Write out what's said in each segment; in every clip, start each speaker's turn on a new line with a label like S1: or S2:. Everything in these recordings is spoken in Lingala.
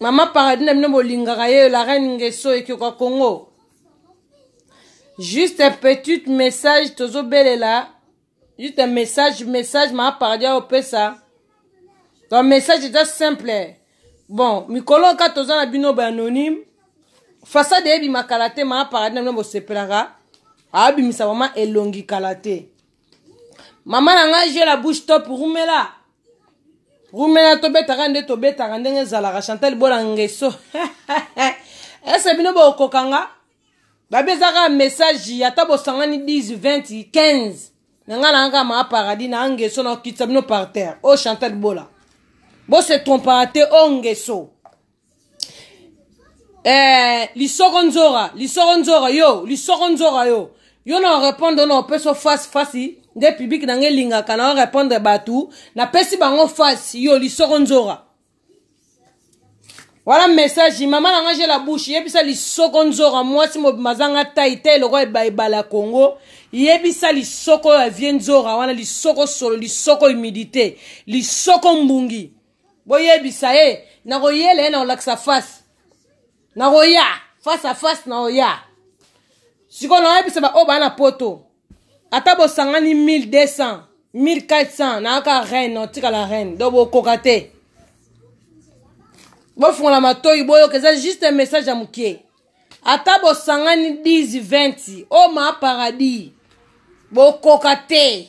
S1: mama paradis na bino bolingaka ye la reine ngeso ekioka congo juste petite message tozobelela juste message message mama paradis aopesa donc message eza simple bon mikolo oyo kaka toza na bino ba anonyme fasade eyebima kala te mama paradis na bino bosepelaka aabimisa mama elongi kala te mama na ngai je la bouche top rumela rumena tobetaka nde tobetaka ndenge ezalaka chantal bola ngeso ese bino bokoka nga babi eza kaka message ata bosangani 10 20 15 na ngai nanga kaka maa paradis na ngeso na okitisa bino par terre o oh, chantal bola bose trompaka te o oh, ngeso eh, lisoko nzora lisoko nzora yo lisoko nzora yo yo na orepondre na opeso face face nde publike na ngai elingaka na orepondre bato napesi bango face yo lisoko nzora wana message mama na ngai je la bouche yebisa lisoko nzora mwasi mobimba azanga tai te eloko ebala ya kongo yebisa lisoko ya vie nzora wana lisoko solo lisoko humidité lisoko mbungi boyebisa ye nakoyela ye nakolakisa face nakoya face a face nakoya sikoyo nakoyebisa baoyo baa na poto ata bosangani 1200 1400 nayaka reine otikala reine donc bokoka te bofungola matoyi boyoka eza juste message ya mokie ata bosangani 10 20 o ma paradis bokoka te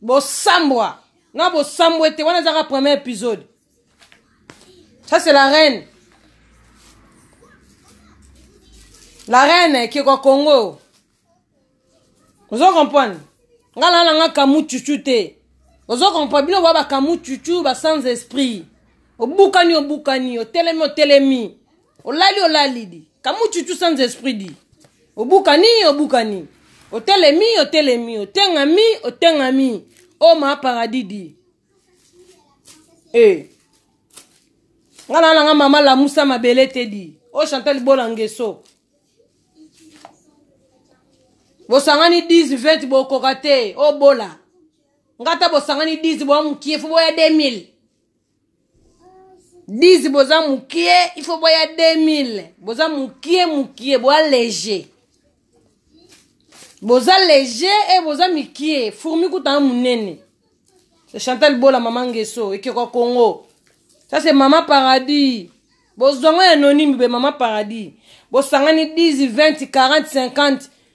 S1: bosambwa na bosambwe te wana ezaka premier épisode ça c'est la reine la reine ekeko congo ozo comprendre nga lala nga kamu chuchu te ozo comprendre bino boya bakamu chuchu ba sans esprit obukani obukani otelemi otelemi olali olali di kamuchuchu sans esprit di obukani obukani otelemi otelemi otengami otengami oma paradis di e eh. nga na nanga mama lamusa mabele te di o chanta libola ngeso bosangani 10 20 bokoka te obola nga ata bosangani 10 boya mokie fo boya 2000 10 boza mukie il faut boya 2000 boza mukie mukie boya léger boza léger e boza mikie fourmi kutanga munene c'est chantal bola mama ngeso ekeko congo ça c'est mama paradis bozwango ya nonimi be mama paradis bosangani 10 20 40 50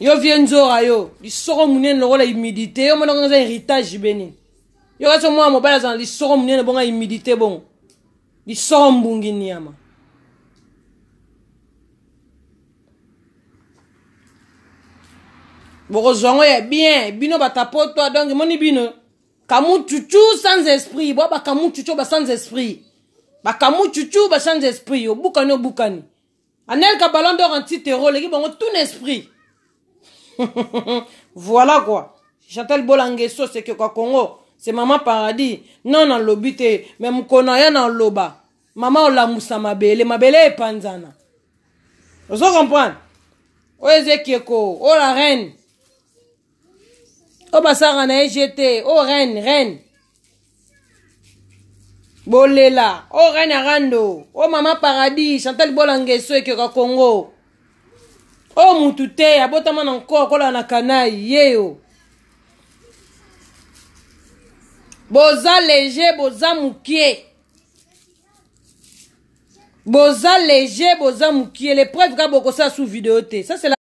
S1: yo vie nzora yo lisoko monene lokola humidité yo monaka eza héritage beni yo kasi omwana mobali azala lisoko monene bonga humidité bongo lisoko mbungi niama bokozwa yango ya bien bino batapotwa donc emoni bino kamuchuchu sans esprit bwa bakamuchuchu ba sans esprit bakamuchuchu ba sans esprit obukani obukani anelka ballon d'or anti terreau oleki bango tout n'esprit voilà quoi chantal bolange sosi ekioka congo se mama paradis non nalobi te me mokona ya na oloba mama olamusa mabele mabele epanzana ozo comprendre oyo eza ekeko oyo la reine oyo basalaka na ye gt oyo oh, reine reine bolela oyo oh, reine arando oyo oh, mama paradis chantal bolangeso ekioka congo oyo mutu te abotama na nko akolaka na kanai yeyo boza lege boza mokie boza lege boza mokie lepreuve kaka bokosala sous video te ça c'est la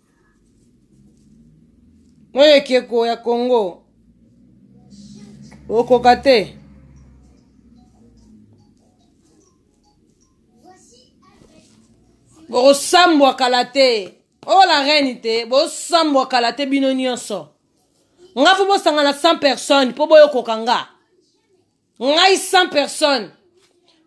S1: oyo ekeko ya congo okoka te bokosambwa kala te oyo la reine te bosambwa kala te bino nyonso nga mpo bosangana 100 personne mpo boyokoka nga ngai sans personne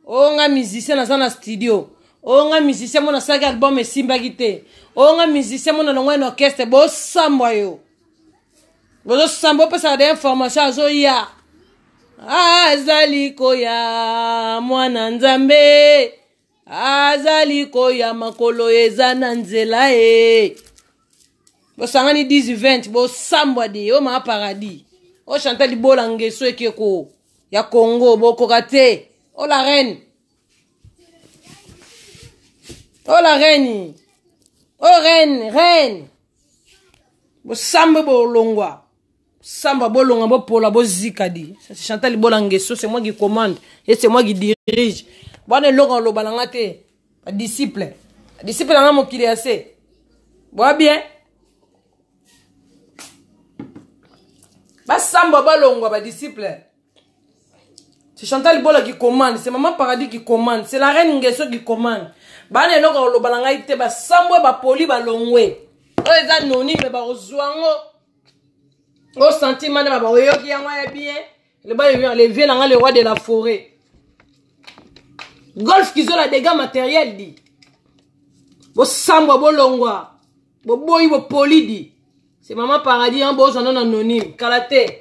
S1: oyo oh, ngai musicien naza na studio oyo oh, ngai musicien mona asalaki album esimbaki te oyo oh, ngai musicien mona longwai na orchestre bosambwa yo bozosamba opesaka de information azoya azali koya mwana nzambe azali koya makolo eza na nzela e bosangani 10 bosambwa de o maa paradis o chanta libola ngeso ekeko ya congo bokoka te o la reine o la reine o reine reine bosambwe bolongwa samba bolonga bopola bozika di chantal bola ngeso c'est moi qui commande et c'est moi qui dirige bwana eloko aloba na nga te badisciple disciple na nga mokili ya se boya bien basamba balongwa badisciple c'est chantal bola qui commande c'est maman paradis qui commande c'est la reine ngeso qui commande bana eloko aloba na ngai te basambwe bapoli balongwe oyo eza noni me bakozwa yango o senti manda baba oyoki yango ya bien loba le vieux nanga le roi de la forêt golf kizola dégâts matériel di bosambwa bolongwa boboyi bopoli di se mama paradis yango bozwa nano anonyme kala te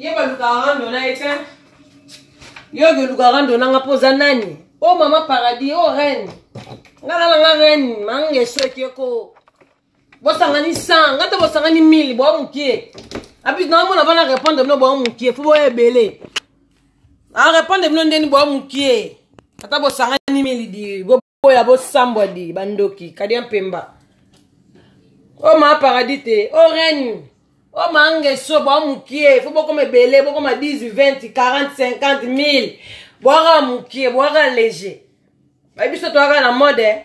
S1: ye balukaka rando na ye te yo oluka rando nanga mpo oza nani o oh, mama paradis o oh, reine nga na nanga reine manga esoki eko bosangani 100 nga te bosangani 1000 boa mokie abis na omona bana répondre bino boa mokie fo boya ebele arépondre bino ndeni boa mokie ata bosangani 1000 di oyo ya bosambwa di bandoki kadia mpemba o oh, maa paradis te o oh, reine o oh, maa ngeso bwa mokie fo bokoma ebele bokoma 10 20 40 50 1000 bwaka mokie bwaka leger babiso toyaka na mode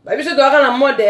S1: babiso toyaka na mode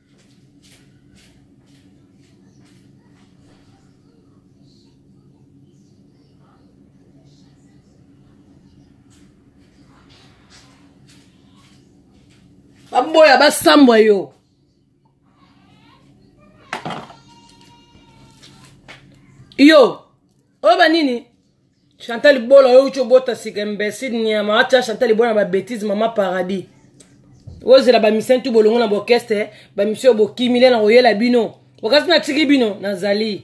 S1: baboya basambwa yo yo oyo banini chantal bola oyo uti obota sika imbecile nyama atia chantal bola na babétise mama paradis ozela bamisien tu bolongo na bokeste bamisio oyo bokimi le na koyela bino okasi natiki bino nazali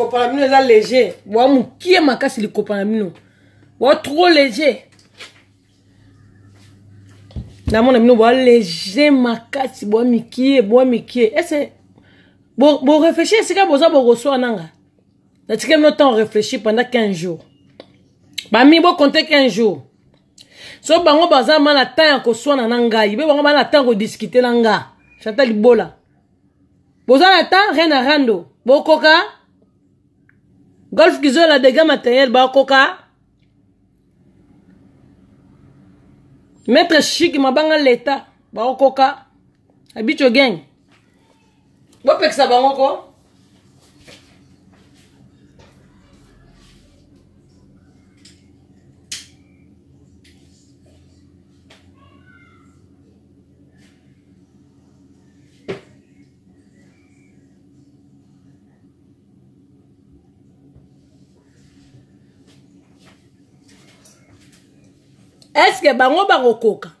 S1: likopa na bino eza léger boa mokie makasi likopa na bino boa trop léger namona bino boa léger makasi boa mikie boa mikie ese boréfléchir esika boza bokoswa nanga natika bino temps réfléchir pendant 15 jours bami bokonte 15 jours so bango baza ma na temps ya koswana na ngai mpe bango bana temps kodiskute na nga chata libola boza na temps rien na rando bokoka golf kizola dega matériel bakoka maître chic mabanga leta bakokoka abicho gang bopekisa bango ko eske bango bakokoka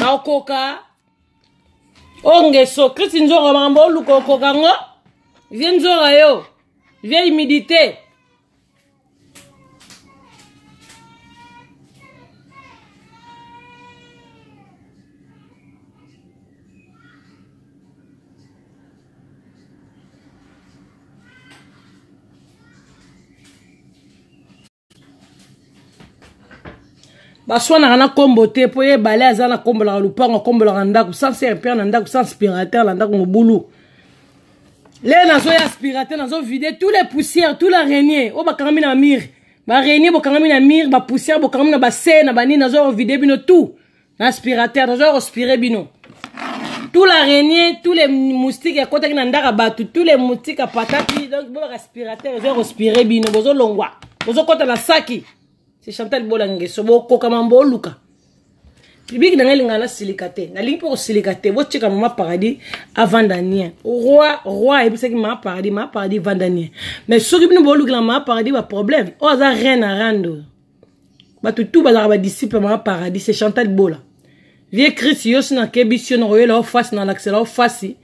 S1: nakoka ongeso krisi nzonga makambo oluka okoka ngo vie nzonga yo vie humidité baswanaka na nkombo te mpo ye ebale aza na kombolaka lupango akombolaka ndako sans serpent na ndako sans spirateur na ndako mobulu le nazoya spirateur nazovide tous les poussières tous la renier oyo bakangami na mire barenier bokangami na mire bapoussière bokangami na base na banini nazoya ovide bino tout na aspirateur nazoya kospire bino tout la renie tous les moustiques ekotaki na ndaka bato tous les moustiques apataki donc bobaka aspirateur ezoya kospire bino bozolongwa bozokota na saki se chantal bolangeso bokoka mambo oluka publiki na ngai elingaa nasilika te nalingi mpe kosilika te botika mama paradis avanda nien roi roi ayebisaki mama paradis mama paradis vanda nien mais soki bino boolukela mama paradis baproblème oyo aza reine arando bato tu bazalaka badisiple ya mama paradis se chantal bola vie christ yo si nakebisi yo nakoyela yo fasi nalakisela yo fasi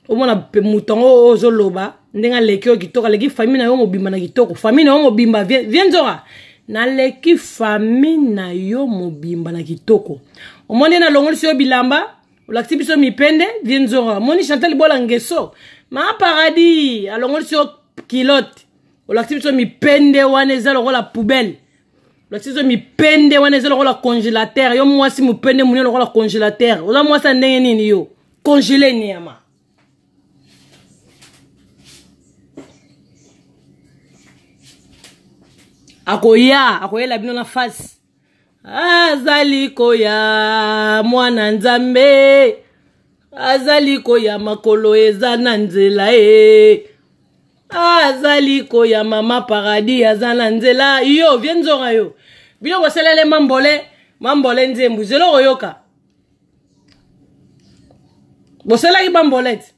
S1: omona moto yango oyo ozoloba ndenge aleki oyo kitoko aleki famille na yo mobimba na kitoko famille na yo mobimba vie nzoka naleki famille na yo mobimba na kitoko omoni nalongolisi yo bilamba olakisi biso mipende vie nzoka omoni chantal bola ngeso ma paradis alongolisi yo kilote olakisi biso mipende wana eza lokola poubelle olakisi biso mipende wana eza lokola congélateur yo mwasi mopende monene lokola congélateur oza mwasi ya ndenge nini yo congele niama akoya akoyela bino na face azali koya mwana nzambe azali koya makolo eza na nzela e azali koya mama paradis aza na nzela yo vie nzonga yo biloko osalele mambole mambole nzembu zelo okoyoka bosalaki bambolete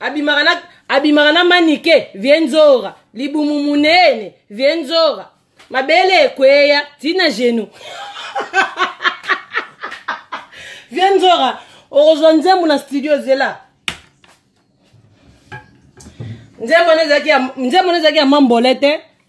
S1: abimaka na abimaka na manike vie nzora libumu munene vie nzora mabele ekweya ti na genou vie nzora okozwa nzembo na studio zela nzembo wana ezalaki ya mambola te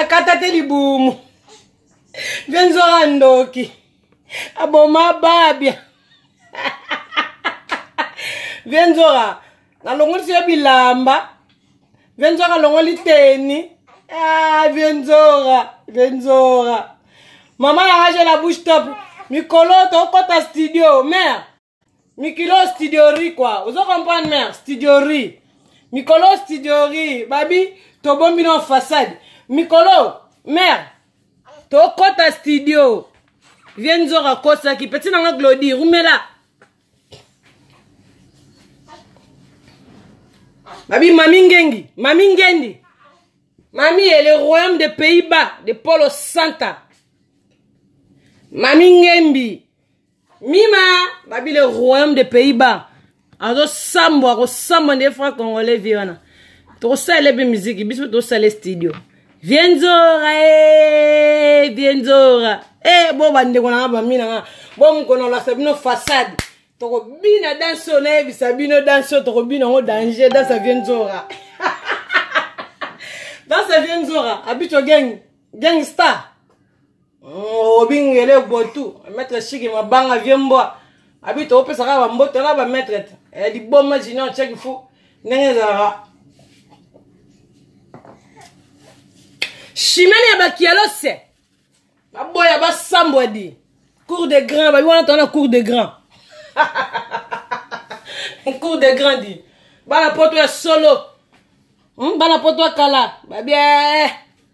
S1: akata te libumu mpe nzoka ndoki aboma babia mpe nzoka nalongolisi yo bilamba mpe nzoka alongoli teni ah, mpe nzoka mpe nzoka mama yanga je la bouche top mikolo tokota studio mare mikilo studiori kua ozo comprendre mare studiori mikolo studiori babi tobombi no façade mikolo mare tokɔta studio vie nzor akosaki peti nanga glodi rumela babi mami ngengi mami ngendi mami ye le royaume de pays bas de polo santa mami ngembi mima babi le royaume de pays bas azosambwa akosambwa nde fra congolais vie wana tokosalela mpe miziki biso tosala studio vie nzora e vie nzora e bo bandeko nanga bamina nga bo mokona olakisa bino fasade tokobina danse oyo nayebisa bino danse oyo tokobina yango danger danse ya vie nzora danse ya vie nzora abicho gang gang star obingele botu maître shiki mabanga vie mbwa abi tokopesa kaka bamboto na bamaître te eh, liboma junior cheki fu ndenge ezalaka shimene ya bakialose baboya basambwa di cour de grand babi wana tona cour de grand cour de grand di bana poto ya solo hmm, bana poto ya kala babie eh, eh, eh.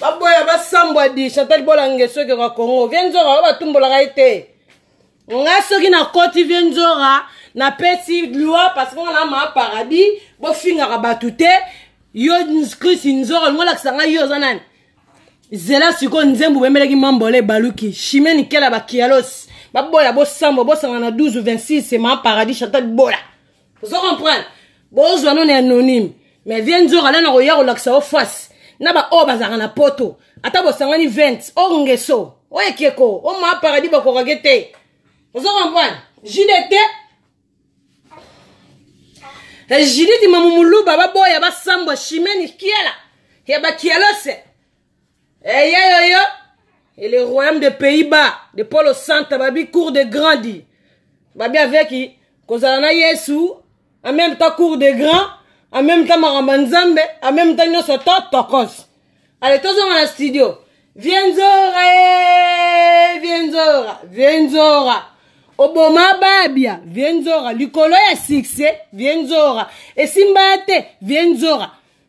S1: baboya basambwa di chantal bolange soki oka congo vie nzoka oyo batumbolaka ye te nga soki nakoti vie nzora napesi loi parce que nga na maa paradis bofingaka bato te yo chris nzora olingo olakisa ngai yo oza nani zela sikoyo nzembo obemelaki mambola ebaluki chimie nikela bakialos baboya bosambwa bosangana 12 26 ma paradis chantal bola ozo comprendre bozwa no na anonyme mais vie nzoka nana koya kolakisa yo face na baoyo oh, bazalaka na poto ata bosangani 20 o oh, ngeso o oh, ekeko o ma paradis bakokake te ozo comprendre jide te eh, jiditi mamumuluba baboya basambwa shimeni kiela ya bakielose Eh, yo, yo, yo. Et le royaume des Pays-Bas, de Polo Santa, babi cours de grandi. Babi avec qui, kozala na Yesu, en même temps cours de grand, en même temps maramba nzambe, en même temps nyoso to tokos. Allez, tozonga na studio. Vienzora, eh, vienzora, vienzora. oboma babia vienzora likolo ya succès vienzora esimba te vienzora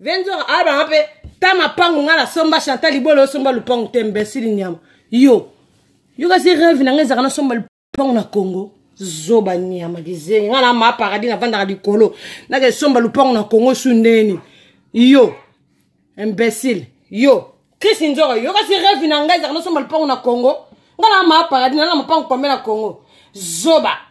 S1: venzora abanga mpe ta mapangu ngai nasomba chantal libolo osomba lupangu te mbesili nyama yo yo kasi reve na ngai ezalaka nasomba lupangu na congo zoba nyama kizengi ngai na ma paradis navandaka likolo nakesomba lupangu na congo su ndeni yo imbécile yo chris nzoro yo kasi reve na ngai ezalaka nasomba lupangu na congo ngai na ma paradis nana mapangu pambe na congo zoba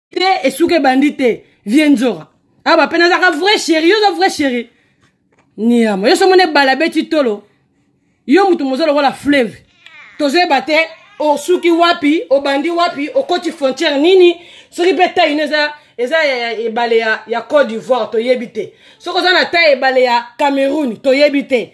S1: te esuka ebandi te vie nzora awa bapena azaka vrai chéri yo oza vrai chéri niama yo somona ebala beti tolo yo moto moza lokola fleuve tozoyeba te osuki wapi obandi wapi okoti frontière nini soki mpe tai ino eza eza ebale ya, ya, ya côte d'ivoire toyebi te soki oza na tai ebale ya cameroun toyebi te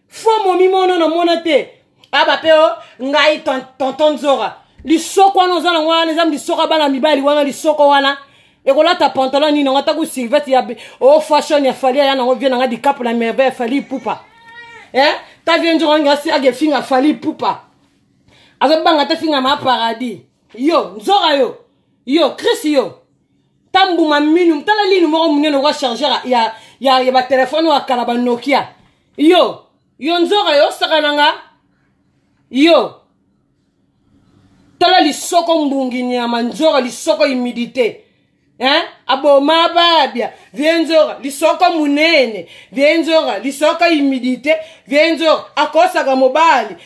S1: fo momimono na mona te aba mpe o ngai tonton nzora lisoko wana oza nango wana eza lisoko ya bana mibali wana lisoko wana ekolata pantalon nini yango atako silvete ya o oh, fashion ya fali aya nango vie nanga dikapo na merveille ya fali pupa eh? ta vie nzora ngi asi age finga fali pupa azobanga te finga ma paradis yo nzora yo yo chris yo ta mbuma minu tala linu moko monene okwa chargeur ya, ya, ya batelefone oyo akala banokia yo yo nzoka yo osakana nga yo tala lisoko mbungi nyama nzoka lisoko humidité hein? aboma babia vie nzoka lisoko munene vie nzoka lisoko humidité vie nzoka akosaka mobali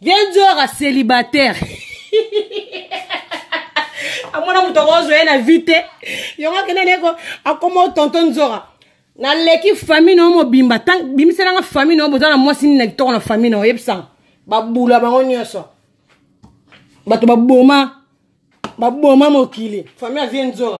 S1: viens diora célibataire amona moto akozwa ye na vie te yango akenda na ye akoma tonto nzora naleki famille na yo mobimba bimisela nga famille na yo boza na mwasi nini na kitoko na famille na yo yebisanga babula bango nyonso bato baboma baboma mokili famille avie nzora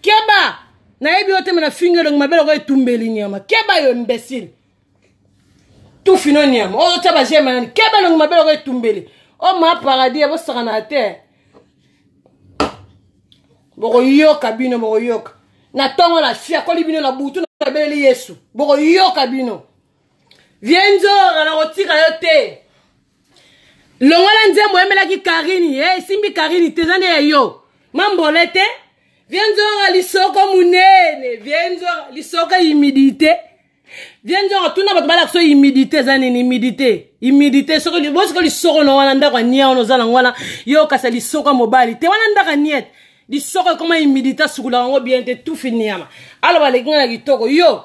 S1: keba nayebi yo te me nafingi elongi mabe lokola etumbeli nyama keba yo imbecile tufino nyama oyo otya bajema nani keba elongi mabe lokola etumbeli o oh, ma paradis ya bosakana te bokoyoka bino bokoyoka na ntongo na fiakoli bino na butu nabeleli yesu bokoyoka bino vie nzora nakotika yo te longola nzembo oyemelaki karini e eh, esimbi karini te eza nde ya yo mambole te vie nzora lisoko monene vie nzora lisoko humidité vie nzora tuna bato balakisa oyo humidité eza nini humidité humidité soki bosiko lisoko na wana ndako ania wana oza nango wana yo okasa lisoko ya mobali te wana ndako aniete lisoko ekoma humidité asukolaka yango bien te tufi niama aloba aleki ngai na kitoko yo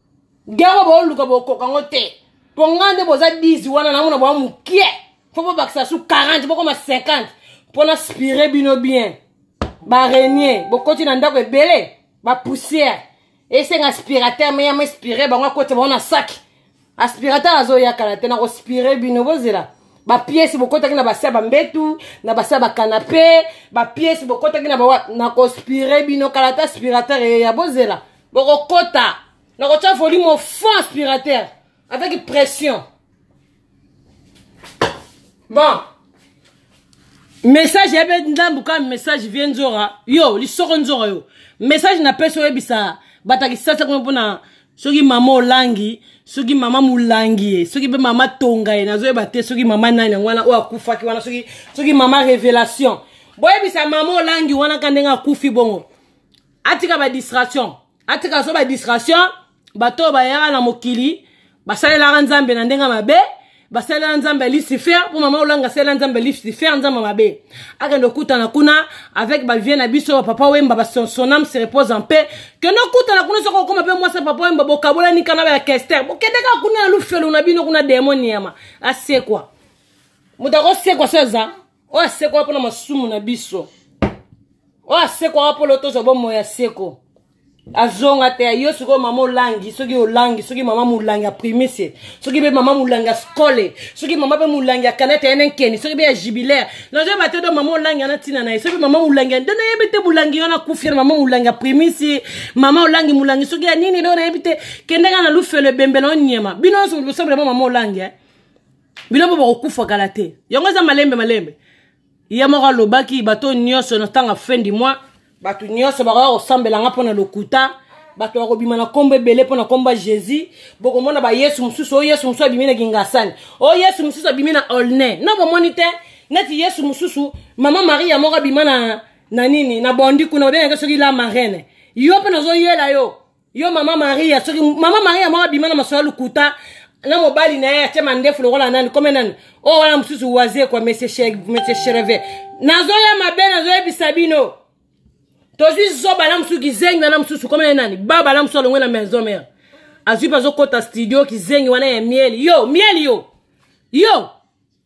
S1: yango booluka bokoka yango te mpo ngai nde boza 10 wana namona boa mokie mpo bobakisa su 40 bokoma 50 mpo na spire bino bien barenie bokoti na ndako ebele bapoussière esenga aspirateur me yama espire bango akoti bango na saki aspirateur azoya kala te nakospire bino bozela bapiesi bokotaki na basi ya bambetu na basi ya bakanape bapiesi bokotaki na bawa nakospire bino kala te aspirateur eya bozela bokokota na kotya volume au fond aspirateur avec pression bon message ya be ndambu ka message vie nzora yo lisoko nzora yo message napesi oyebisa bato ya kisasa kuna mpona soki mama olangi soki mama molangi ye soki mpe mama tonga ye nazoyeba te soki mama nani yango wana oyo akufaki wana soki, soki mama révélation boyebisa mama olangi wana ka ndenge akufi bongo atika ba distraction atika so ba distraction bato oyo bayaka na mokili basalelaka nzambe na ndenge mabe basalela nzambe ya lucifer mpo mama olanga asalela nzambe ya lucifer nzambe mabe akende okutana kuna avec bavie na biso bapapa wemba basonam se repose en paix kende okutana kuna soki okoma mpe mwasi ya papa wemba bokabolani kana ba ya kester bokende kaka kuna na lufelo na bino kuna demon yama asekwa moto akosekwa so eza oyo asekwaka mpo na masumu na biso oyo asekwaka mpo lo tozwa bomoi ya seko azonga te yo sikoyo mama olangi soki olangi soki mama molangi ya primise soki mpe mama molangi ya skole soki mama mpe molangi ya kanete ene nkeni soki mpe ya jubilaire nazoyeba te do mama olangi ana ntina na ye soki mama molangi ya nde nayebi te molangi wana akufi na mama molangi ya primise mama olangi molangi soki ya nini do nayebi te kendaka na lufelo ebembe na onyema bino nyonso bosambela mama mama olangi eh? bino mpo bakokufa kala te yango eza malembe malembe ye moko alobaki bato nyonso na ntango fin du mois bato nyonso bakoya kosambela nga mpo na lokuta bato bakobima na nkombo ebele mpo na nkombo ya jésus bokomona bayesu mosusu oyo yesu mosusu abimi na kingasani oyo yesu mosusu abimi na olne no bomoni te neti yesu mosusu mama maria moko abima na, na nini na bondi kuna babengaki soki la marraine yo mpe nazoyela yo yo mama maria soki mama maria moko abima na masolo ya lokuta na mobali na ye atye mandefu lokola nani kome nani oyo oh, wana mosusu waze kwa monsieur chereve nazoya mabe nazoyebisa bino tozwi zoba na mosusu kizengi wana mosusu kome nani baba na mosusu alongwe na maison mare azwi mpe azokɔta studio kizengi wana ya mieli yo mieli yo yo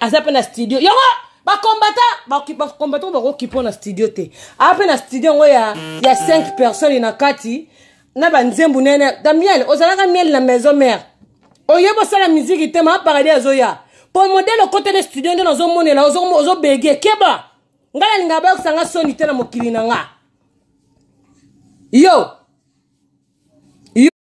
S1: aza mpe na studio yango bakombata bakombata bakokipo na studio te aa mpe na studio yango ya, ya 5 personnes na kati na banzembu nene na miel ozalaka miel na maison mare oye bosala miziki te maa paradis azoya mpo modele okotele studio nde nazomonela ozobege keba ngai nalingaka bayokisa nga soni te na mokili na nga yo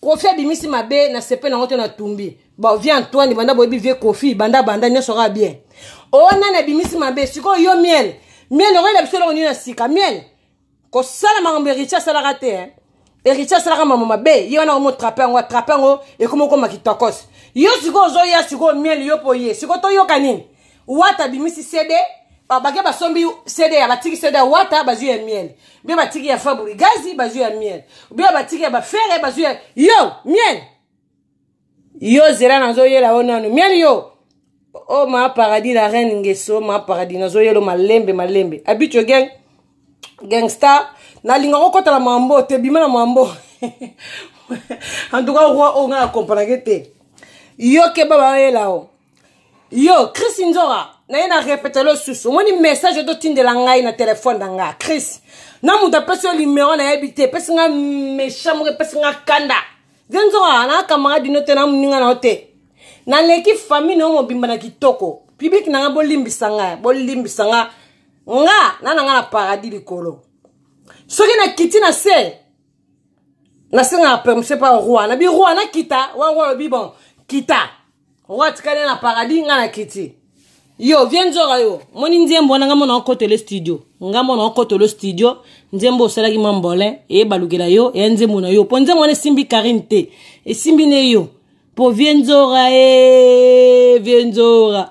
S1: kofi abimisi mabe na sepe nango te natumbi bon vie antoine banda boyebi vie kofi banda banda nyonso kaka bien oyo oh, nani abimisi mabe sikoyo yo miel miel okoyela biso eloko nini na sika miel kosala makambo eritie asalaka te eh. eritie asalaka mamo mabe ye wana omotrape yango atrape yango ekomi okoma kitokos yo sikoyo ozoya sikoyo miel yo mpo ye sikoyo toyoka nini wata abimisi cd ah, bake basombi cd ya batiki cd ya wata bazwi ya miel bie batiki ya faburi gazi bazwi ya miel bie batiki ya bafere bazwi ya yo miel yo zela nazoyela yo nanu miel yo o oh, ma paradis la reine ngeso ma paradis nazoyelo malembe malembe abicho gang gangster nalinga kokɔta na mambo te bima na mambo en tout cas roi oyo ngai na comprenake te yo keba bayela o yo chris nzora naye na repetelo susu omoni message ototindela ngai na telefone na ngai chris na moto apesi yo limero nayebi te epesi ngai méchant moko epesi ngai kanda ze nzora na camarade dino te na moninga na yo te naleki famille na yo mobimba na kitoko piblike na ngai bolimbisa ngai bolimbisa ngai nga na na ngai na paradis likolo soki nakiti na se nasengaka permission mpa roi wana bi roi nakita wana roi alobi bon kita roi atikali na paradis ngai nakiti yo vie nzoka yo moni nzembo wana ngai mona okotele studio ngai mona okotele studio nzembo osalaki mwa mbolin eye balukela yo eya nzembo na yo mpo nzembo wana esimbi karine te esimbi ne yo mpo vie nzora e vie nzora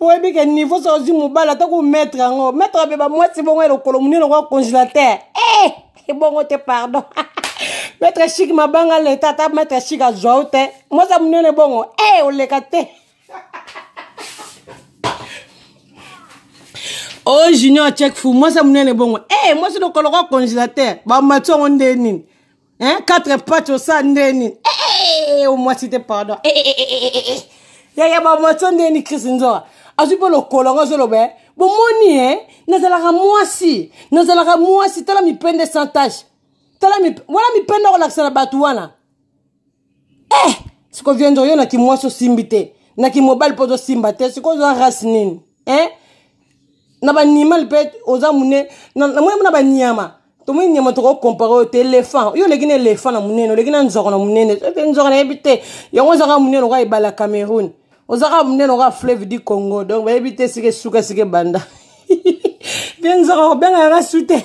S1: oyebi ke niveau soki ozwi mobali ata kometre yango metre abe bamwasi bongo ya lokolo monene lokola congélateur e eh, ebongo te pardon metre chik mabanga leta ata metre chik azwa yo te mwasi ya monene bongo e eh, oleka te o oh, junior check fu mwasi ya monene bongo e eh, mwasi lokolo lokola congélateur bamati yango nde nini hein quatre pattes osa nde nini eh, eh, omwasi te pardon eh, yaya bamwasi o nde nini chris nzoa azwi mpe lokolo yango azoloba eh? bomoni e nazalaka mwasi nazalaka mwasi tala mipende sans tache tala mip... wana mipende akolakisa na bato wana eh siko viandre yo na kimwasi osimbi te na kimobali mpo ozosimba te siko oza race nini eh na banimal mpe oza mune namoni mpo na banyama tomoni nyama tokokompare oyo te elephant yo oleki na elephant na monene oleki na nzoko na monene mpe nzoko nayebi te yango ozaka monene oka ebala ya cameroun ozaka monene oka fleuve du congo donc bayebi te esika esuka esika ebanda mpe nzoko kobenga yanga su te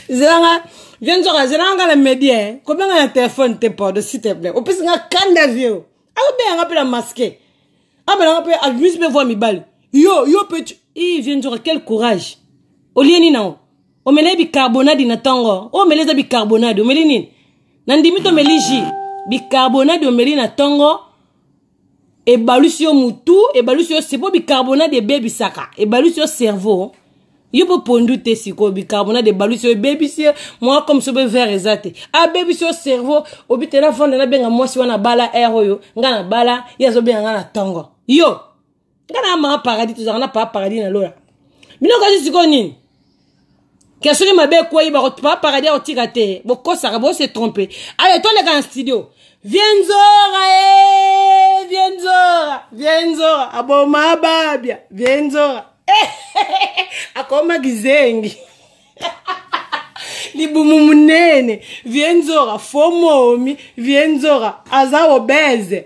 S1: zelanga vie nzoka zelanga nga na medie eh. kobenga na telefone te pardon s'il te plaît opesi nga kanda vie o akobenga nga mpe na maske abela nga mpe abimisi mpe voi mibali yo yo mpe i vie nzoka quel courage olie nini nango omeli bicarbonade na ntongo oyo omeli eza bicarbonade omeli nini nandimi tomeli ji bicarbonade omeli na ntongo ebalusi yo mutu ebalusi yo sepo bicarbonate ebebisaka ebalusi yo cerveau yo mpe pondu te sikoyo bicarbonate ebalusi yo ebebisi ye mwa comme so mpe vert eza te abebisi yo cerveau obi te nafanda nabenga mwasi wana abala aire oyo ngai nabala ye azobenga ngai na ntongo yo nga na mama paradis tozalaka na papa paradis na lola bino kasi sikoyo nini ke soki mabe ekwei papa paradis akotika te bokosaka bose trompe ale toleka na studio vienzora e eh, vienzora vienzora aboma babia vienzora eh, akoma kizengi libumu munene vienzora fomomi vienzora aza obese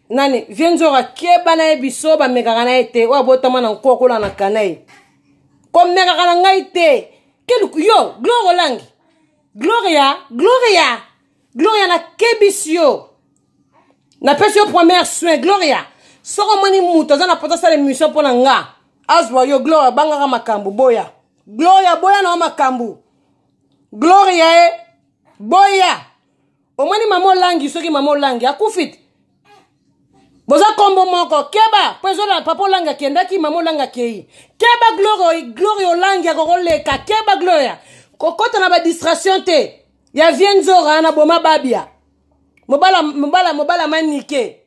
S1: nani vie nzoka keba na ye biso bamekaka na ye te oyo abotama na nkokola na kana ye komekaka na ngai te keluku yo glore olangi gloria gloria gloria nakebisi yo napesi yo première soin gloria soki omoni moto aza na poto asala émission mpo na nga azwa yo gloria abangaka makambo boya gloria boya na yo makambo gloria e boya omoni mama olangi soki mama olangi akufi te boza kombo moko keba mpo ezola papa olanga akendaki mama olanga akei keba gloria gloria olangi akokoleka keba gloria kokota na badistraction te ya vie nzora na boma babia mobala mobala mobala manike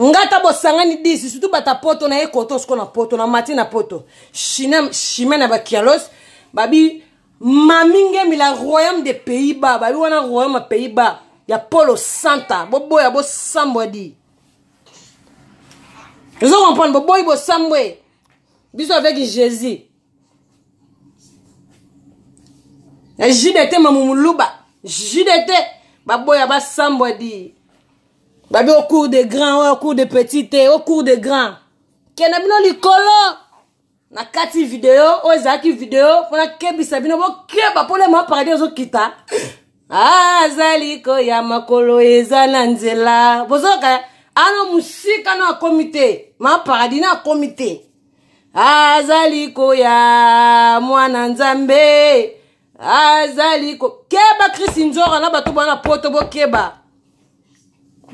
S1: nga ata bosangani disi surtout bata poto naye koto siko na poto na mati na poto chime na bakialos babi mami ngembi la royaume de pays bas babi wana royaume ya pays bas ya polo santa boboya bosambwa di ozo comprendre boboyi bosambwe biso avec jésus na jdt mamumuluba jdt baboya basambwa di babi au cours de grand oyo au cours de petit te au cours de grand kenda bino likolo na kati video oyo ezalaki video mpo nakebisa bino bokeba mpo lema paradis ezokita azali koya makolo eza na nzela bozoka ano mosika no akomi te ma paradis na akomi te azali koya mwana nzambe azali ko keba krisi nzora na bato bana poto bokeba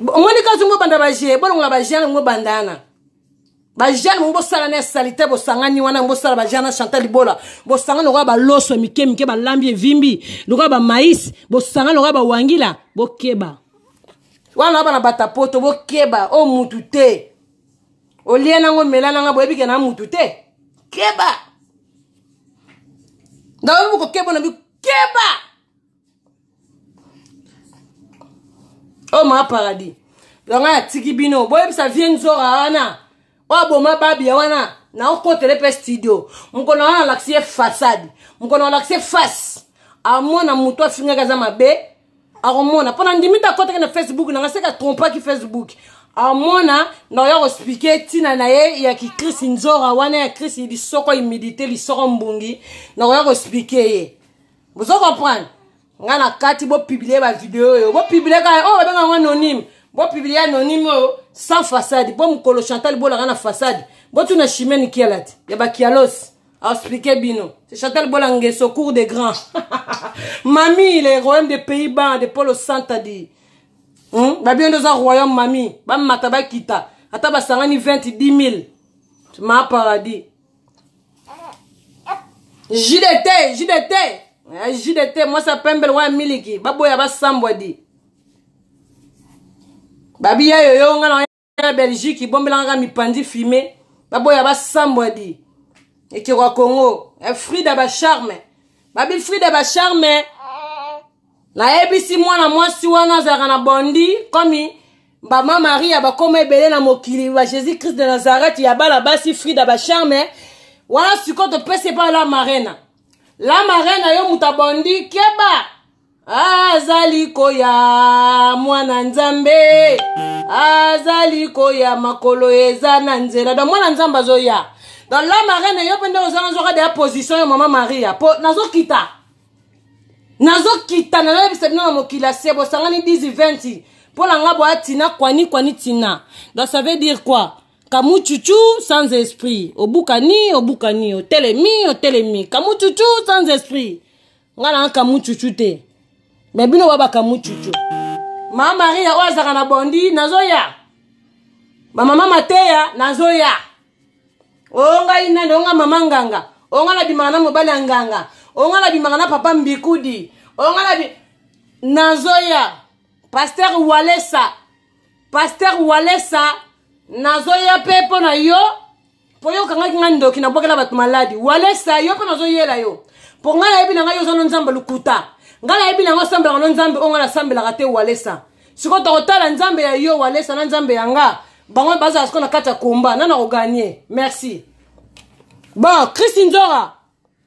S1: omoni kasi ngo banda baje bolongola bajane ngo bandana bajane ngo bosala na salite bosangani wana bosala bajane na chantal libola bosangani lokola baloso mike mike balambi evimbi lokola bamais bosangani lokola bawangila bokeba wana bana bata poto bokeba o mutu te olia nango omela nanga boyebi ke na mutu te keba naoyebi kokeba na bikeba oyo oh, maa paradis yango atiki bino boyebisa vie nzora wana oyo aboma babia wana naokotele mpe studio mokolo wana alakisi ye fasade mokolo alakisi ye face amona moto afingaki aza mabe akomona mpo nandimi te akotaki na facebook nanga seke atrompaki facebook amona na oya koexplike ntina na ye ya kikrisi nzora wana ya krisi lisoko humidité lisoko mbongi na oya koexplike ye bozo comprendre ngai na kati bopublie bavideo oyo bopublie kaka oyo oh, babenga yango anonyme bopublie anonyme oyo oh, sans façade mpo mokolo chantal bolaka na façade botuna chimene kialati ya bakialosi expliquer bino c'est chantal bola ngeso cour de grand mami le royaume de pays ban de polo santa di hmm? babino nde oza royaume mami bamata bakita ata basangani 20 10000 ma paradis jdt jdt eh, jdt mwasi ya pembe lokola miliki baboya basambwa di babiya yoyo nga na ya belgique ibombelanga kaka mipanzi fume baboya basambwa di ekeko ya congo eh, frida bacharme babi frida bacharme nayebisi mwana mwasi wana azalaka na bondi komi bama maria bakoma ebele na mokili ba jésus christ de nazareth ya bana basi frida bacharme wana sikoyo topesi epai la marena la marena yo moto abondi keba azali koya mwana nzambe azali koya makolo eza na nzela donc mwana nzambe azoya donc la marraine yo mpe nde ozanga nzoka deya position ya mama maria mpo nazokita nazokita nayebisa bino na mokili ya se bosangani 10 20 mpo na nga boya tina kwani kwani tina donc ça veut dire quoi kamuchuchu sans esprit obukani obukani otelemi otelemi kamuchuchu sans esprit nga na kamuchuchu te me bino ba bakamuchuchu mama maria oyo azalaka na bondi nazoya bamama mateya nazoya oyo ngai nani oyo nga mama nganga oyo nga nabimaka na mobali ya nganga oyo nga nabimaka na papa mbikudi oyo nga nabi nazoya paster walesa paster walesa nazoya mpe mpo na yo mpo yo okangaki ngai ndoki nabwakela bato maladi walesa yo mpe nazoyela yo mpo ngai nayebi na ngai yo oza no nzambe lukuta ngai nayebi na ngai osambelaka no nzambe oyo ngai nasambelaka te walesa sikoyo tokotala nzambe ya yo walesa na nzambe ya nga bango bazala sikoyo na kati ya komba nana koganie merci bon christi nzora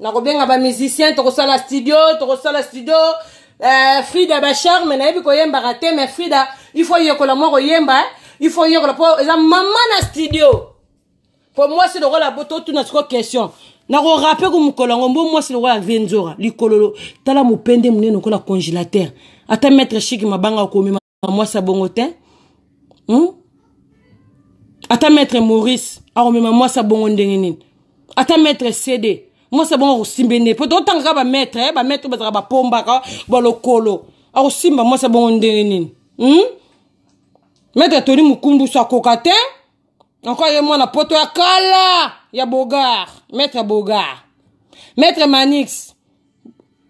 S1: nakobenga bamusicien tokosala studio tokosala studio uh, frida bacharme nayebi koyembaka te mais frida il faut yekola mwa koyemba eh? il faut yekola mpo eza mama na studio mpo mwasi lokola totuna siko question nakorape ko mokolo yango mbo mwasi lokola vie nzora likololo tala mopende monene lokola congélateur ata maître chiki mabanga okomema mwasi ya bongo te hmm? ata maître maurice akomema mwasi ya bongo ndenge nini ata maître cd mwasi ya bongo akosimbe nde mpo totangaka bamaître eh, bamaître bazalaka bapombaka balokolo akosimba mwasi ya bongo ndenge nini hmm? maître toli mokumbusu akoka te encore ye mwana poto ya kala ya bogar maître bogar maître manix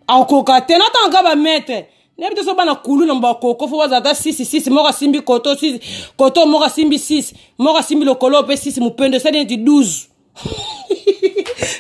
S1: akoka te natanga kaka bamaître nayebi te so bana kulu na bakoko fo bazala ata sisi sisi moko asimbi koto sisi koto moko asimbi sisi moko asimbi lokolo mpe sisi mopendo esali neti 12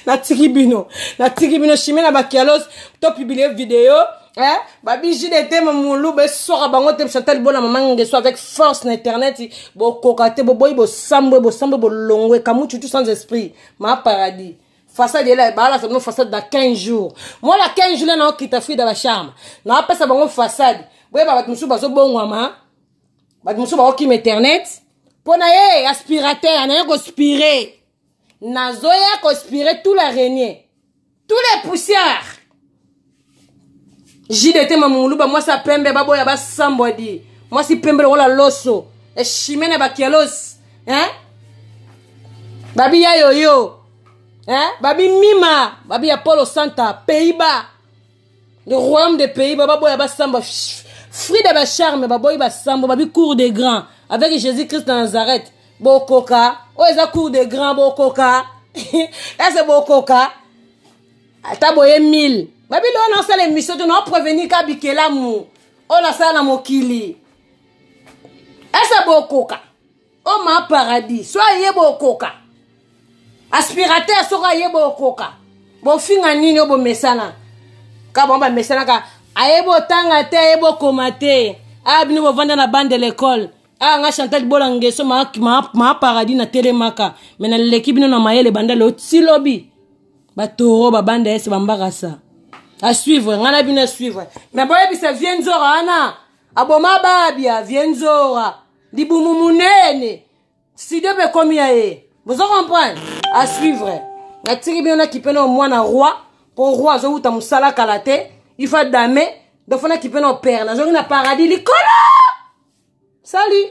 S1: natiki bino natiki bino chimie na bakialos to publie video eh? babiji de te mamulu besoka bango te chantal bona mama ngeso avec force na internet bokoka te boboyi bosambwe bosambwe bolongwe kamutu tout sans esprit ma paradis façade yela baalasa bino façade na 15 jours moi na 15 jours le naokita frida bacharme naapesa bango façade boyeba bato mosusu bazobongwama bato mosusu bakokima internet mpo na ye aspirateur naye kospire nazoya kospire tout la renie tous les poussières jdt mamunguluba mwasi ya pembe baboya basambwa di mwasi pembe lokola loso eshime na bakialosi eh? babi ya yoyo eh? babi mima babi ya polo santa peiba le royaume de pays baba boya basamba fruit de bacharme baboyi basambo babi cour de grand avec jésus christ na nazareth bokoka oyo eza cour de grand bokoka ese bokoka ata boye 1000 babili oyo nasala emission te naoprevenir ka bikelamu oyo nasala na mokili ese bokoka o ma paradis so aye bokoka aspirateur soko aye bokoka bofinga nini oyo bomesana ka bango bamesanaka ayebi otanga te ayebi okoma te aya ah, bino bovanda na bande de l'école aya ah, nga chantal bola ngeso maa ma, ma paradis na telemaka me naleki bino na mayele banda leo ti lobi batoro babanda ese bambarasa asuivre ngai na bino asuivre me boyebisa vie nzora wana aboma babia vie nzora libumu munene studio mpe ekomi ya ye bozo comprendre à suivre natiki bino na kipe nao mwana roi mpo roi azowuta mosala kala te ifa dame donc fo na kipe nao pere nazongi na paradis likolo sali